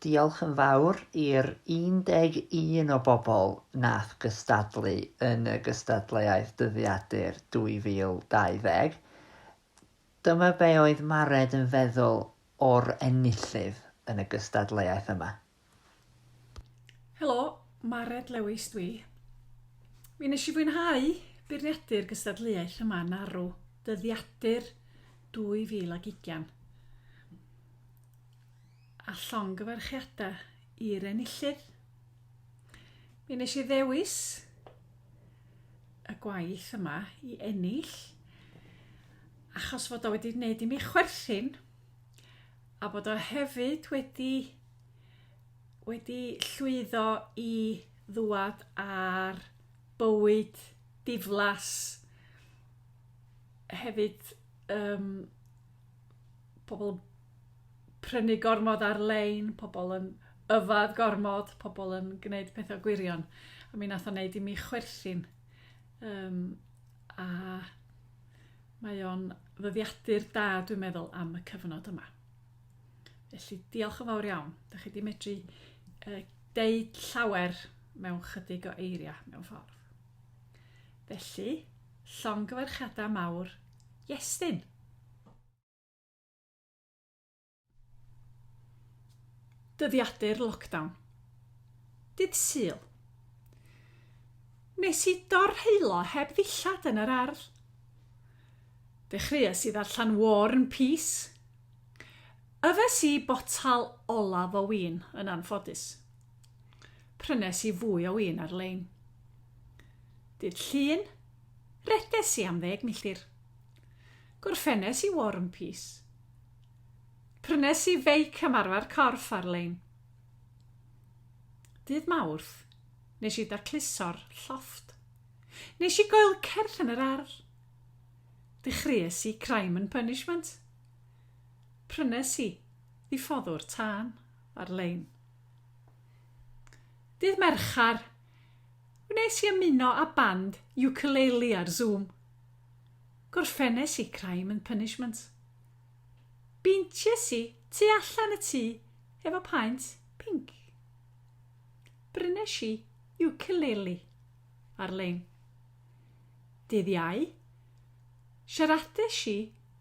Diolch yn fawr i'r 11 o bobl nath gystadlu yn y gystadleuaeth Dyddiadur 2020. Dyma be oedd Mared yn feddwl o'r enillydd yn y gystadleuaeth yma. Helo, Mared Lewis dwi. Mi nes i fwynhau beirniadu'r gystadleuaeth yma yn arw dyddiadur 2020. A llongyfarchiadau i'r enillydd. Mi nes i ddewis y gwaith yma i ennill achos fod o wedi wneud i mi chwerthin a bod o hefyd wedi wedi llwyddo i ddwad ar bywyd diflas hefyd um, pobl prynu gormod ar-lein, pobl yn yfad gormod, pobl yn gwneud pethau gwirion. A mi nath o'n neud i mi chwerthin. Um, a mae o'n ddyddiadur da, dwi'n meddwl, am y cyfnod yma. Felly, diolch yn fawr iawn. Da chi wedi medru uh, deud llawer mewn chydig o eiriau mewn ffordd. Felly, llongyfarchiadau mawr, Iestyn! dyddiadur lockdown. Dydd Sul. Nes i dorheilo heb ddillad yn yr ardd. Dechreuais i ddarllen War and Peace, Yfes i botel olaf o win, yn anffodus. Prynes i fwy o win ar-lein. Dydd Llun, redes i am ddeg milltir. Gorffenes i War and Peace. Prynes i feic ymarfer corff ar-lein. Dydd Mawrth, nes i dacluso'r llofft. Nes i goelcerth yn yr ardd. Dechreues i Crime and Punishment. Prynes i ddiffoddwr tân ar-lein. Dydd Mercher, wnes i ymuno â band ukulele ar Zoom. Gorffennes i Crime and Punishment. Beinties i tu allan y tŷ efo paent pinc. Brynes i ukulele ar-lein. Dydd Iau, siaradais i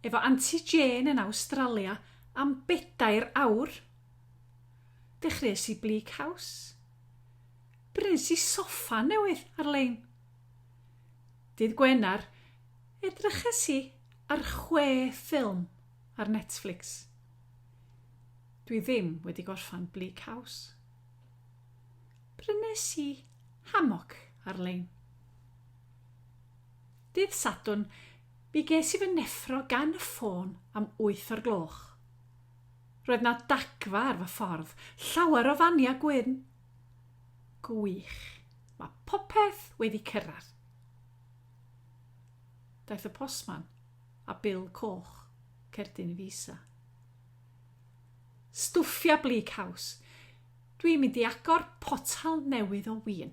efo Anti Jane yn Awstralia am bedair awr. Dechreuais i Bleak House. Brys i soffa newydd ar-lein. Dydd Gwener, edryches i ar chwe ffilm ar Netflix. Dwi ddim wedi gorffan Bleak House. Prynes i hamoc ar-lein. Dydd Sadwrn, mi ges i fy neffro gan y ffôn am wyth o'r gloch. Roedd 'na dagfa ar fy ffordd, llawer o fania gwyn. Gwych, mae popeth wedi cyrraedd. Daeth y postman a bil coch, cerdyn i fi isa. Stwffia Bleak House. Dwi'n mynd i agor potal newydd o win.